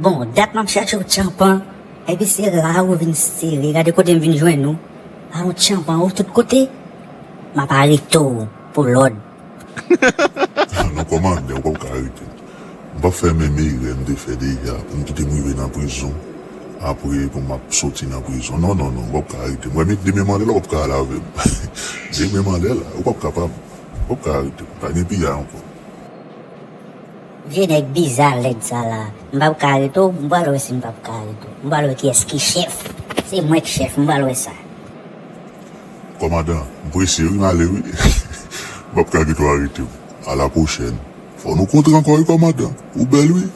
Bon dat map chache w tchanpan epi se la ou vin sere gade kote m vin jwenn ou a ou tchanpan ou tout kote map arete w pou lòd. Non kòmandè ou pap ka arete m m pap fè menm erè m te fè deja pou m kite m rive nan prizon apre pou map soti nan prizon non non non ou pap ka arete m wè men demen mandela ou pap ka al avè m demen mandela ou pap kapab. Ou pap ka arete m. Pa gen piyay ankò. Vye nèg biza lèd sa la. M pap ka arete w. M pral wè si m pap ka arete w. M pral wè kiyès ki chèf. Se mwen k chèf. M pral wè sa. Kòmandan, M prese wi, m ale wi. M pap ka kite w arete m. Alapwochèn. Fò nou kontre ankò wi kòmandan. Ou bèl wi.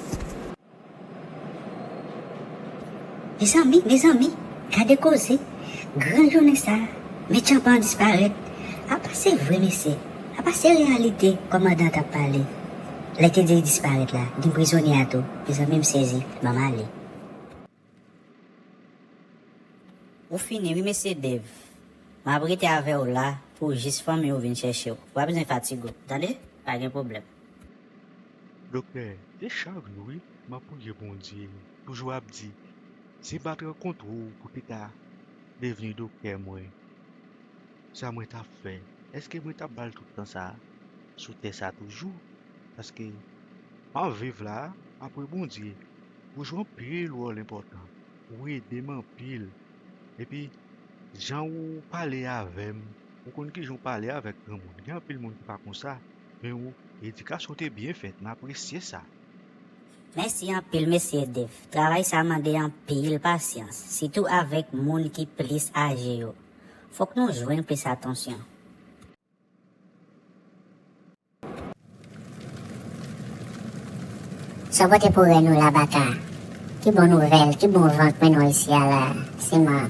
Mezanmi mezanmi gade koze gran jounen sa men tchanpan disparèt apa se vre mesye apa se reyalite kòmandan tap pale lè te di li disparèt la gin prizonye a tou mezanmi m sezi banm ale. Ou fini wi mesye Dave. Map rete avèw la pou jis fanmi ou vin chèchew. Ou pa bezwen fatigue ou tande. Pa gen pwoblèm. Doktè se chak jou wi map priye Bondye toujou ap di se pat rankontre w pou te ka devni doktè mwen sa mwen tap fè eske mwen tap bal tout tan sa sou tè sa toujou paske map viv la apre Bondye. Ou jwe anpil wòl enpòtan, ou ede m anpil, epi jan ou pale avè m, ou konn kijan ou pale avèk granmoun, gen anpil moun ki pa konsa, men ou edikasyon w te byen fèt, m apresye sa. Mèsi anpil Mesye Dave, travay sa mande anpil pasyans, sitou avèk moun ki plis aje yo, fòk nou jwenn plis atansyon. Sa pote pou rèn ou la baka. Ki bon nouvèl, ki bon van k mennen w isi a la, siman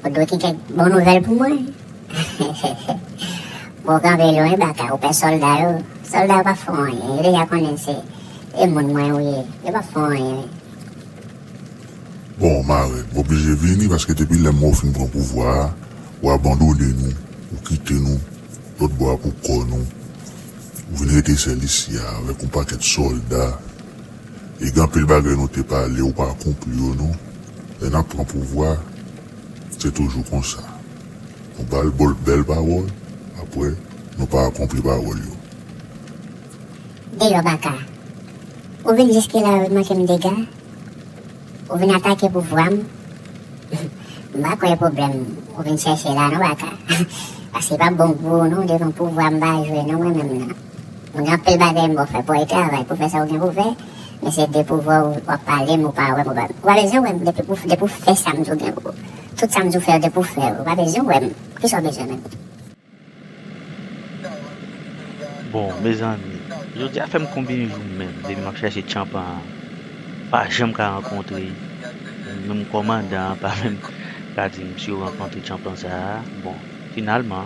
ou dwe gen kèk bon nouvèl pou mwen? Bon, w kanpe lwen, baka, ou pè sòlda yo. Sòlda yo p ap fè w anyen, yo deja konnen se moun mwen ou ye. Yo p ap fè w anyen. Bon marèn, ou oblije vini paske depi lè mò fin pran pouvwa a, ou abandone nou, ou kite nou lòt bò a pou kò nou, ou vin rete sèl isi a avèk yon pakèt sòlda e gen anpil bagay nou te pale ou pa akonpli yo non, lè nap pran pouvwa se toujou konsa, nou bal bèl pawòl aprè nou pa akonpli pawòl yo. Deyò Baka. Ou vin jiske la wi manke m dega? Ou vin atake pouvwa m? M pa kwè e pwoblèm ou vin chèche la non Baka. Paske li pap bon pou ou non devan pouvwa m pa jwe non mwen menm nan. M gen anpil bagay m ba w fè pou w al travay pou w fè sa ou gen pou w fè men se de pouvwa ou wap pale m ou pa wè m ou pa bezwen wè m depi w fè sa m di w gen pou w tout sa m di w fè yo depi w fè yo ou pa bezwen wè m kisa w bezwen menm. Bon mezanmi jodia fèm konbyen jou menm depi map chache tchanpan an pa janm ka rankontre menm kòmandan an pa menm ka dim si yo rankontre tchanpan sa bon finalman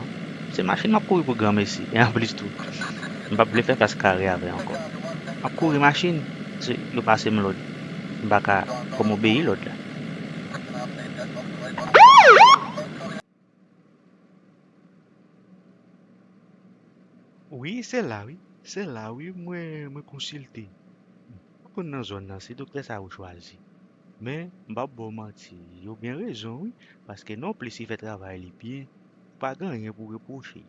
se machin map kouri pou granmesi e anplis tou mpap vle fè fas kare avè ankò map kouri machin paske yo pasem lòd mpaka fòm obeyi lòd la. Wi se la wi se la wi mwen konsilte m pa konn nan zòn nan se doktè sa yo chwazi men m pap ba w manti yo gen rezon wi paske non plis li fè travay li byen ou pa gen anyen pou w repwoche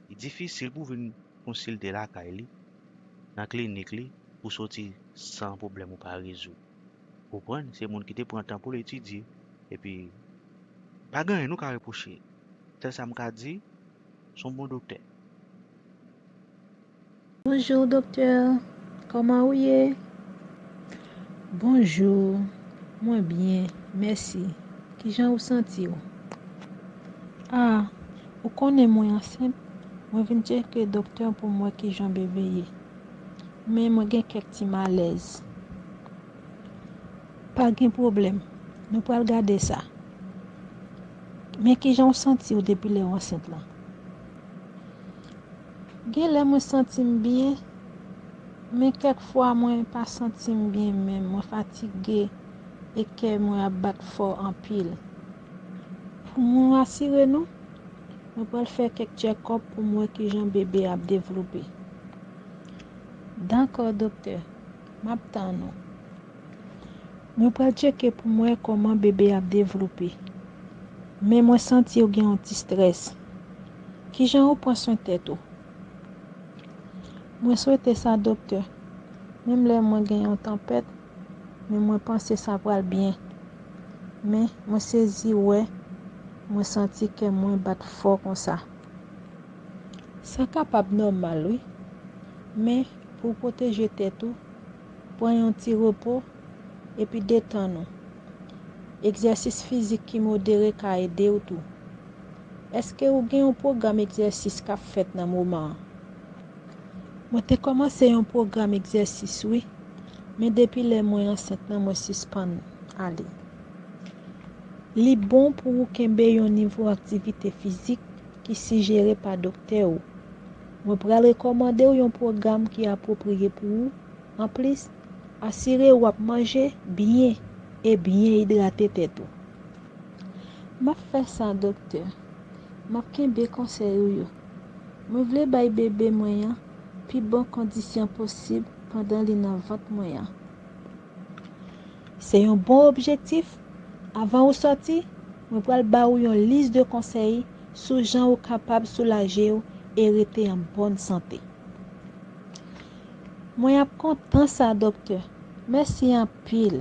li difisil pou w vin konsilte lakay li nan klinik li pou w soti san pwoblèm ou pa rezoud. Ou konprann, se moun ki te pran tan pou l etidye. Epi, pa gen anyen nou ka repwoche. Sèl sa m ka di, s on bon doktè. Bonjour docteur Koman ou ye? Bonjour Mwen byen mèsi Kijan ou santi w? Ah ou konnen mwen ansent mwen vin tcheke docteur pou m wè kijan bébé ye. Men mwen gen kèk ti malèz. Pa gen pwoblèm, nou pral gade sa. Men ki jan w santi w depi lè w ansent lan? Gen lè mwen santi m byen, men kèk fwa mwen pa santi m byen menm, mwen fatige e kè mwen ap bat fò anpil. Pou mwen rasire nou, Mwen pral fè kèk tchèkòp pou m wè ki jan bebe a ap devlope. Dakò doktè, m ap tann ou. Mwen pral tcheke pou m wè kòman bebe a ap devlope. Men mwen santi ou gen yon ti strès. Ki jan ou pran swen tèt ou? Mwen swete sa doktè. Menm lè mwen gen yon tanpèt, men mwen panse sa pral byen men mwen sezi wè mwen santi kè mwen bat fò konsa sa kapab nòmal wi men pou w pwoteje tèt ou pran yon ti repo epi detann ou egzèsis fizik ki modere ka ede w tou èske ou gen yon pwogram egzèsis kap fèt nan moman an. Mwen te kòmanse yon pwogram egzèsis wi, men depi lè mwen ansent nan mwen sispann ale. Li bon pou ou kenbe yon nivo aktivite fizik ki sijere pa doktè ou. Mwen pral rekòmande w yon pwogram ki apwopriye pou ou, anplis, asire ou ap manje byen e byen idrate tèt ou. M ap fè sa doktè. Map kenbe konsèy ou yo. Mwen vle bay bebe mwen an pi bon kondisyon posib pandan li nan vant mwen an. Se yon bon objektif, avan ou sòti, mwen pral ba ou yon lis de konsèy sou jan ou kapab soulaje ou e rete an bòn sante. Mwen ap kontan sa doktè. Mèsi anpil.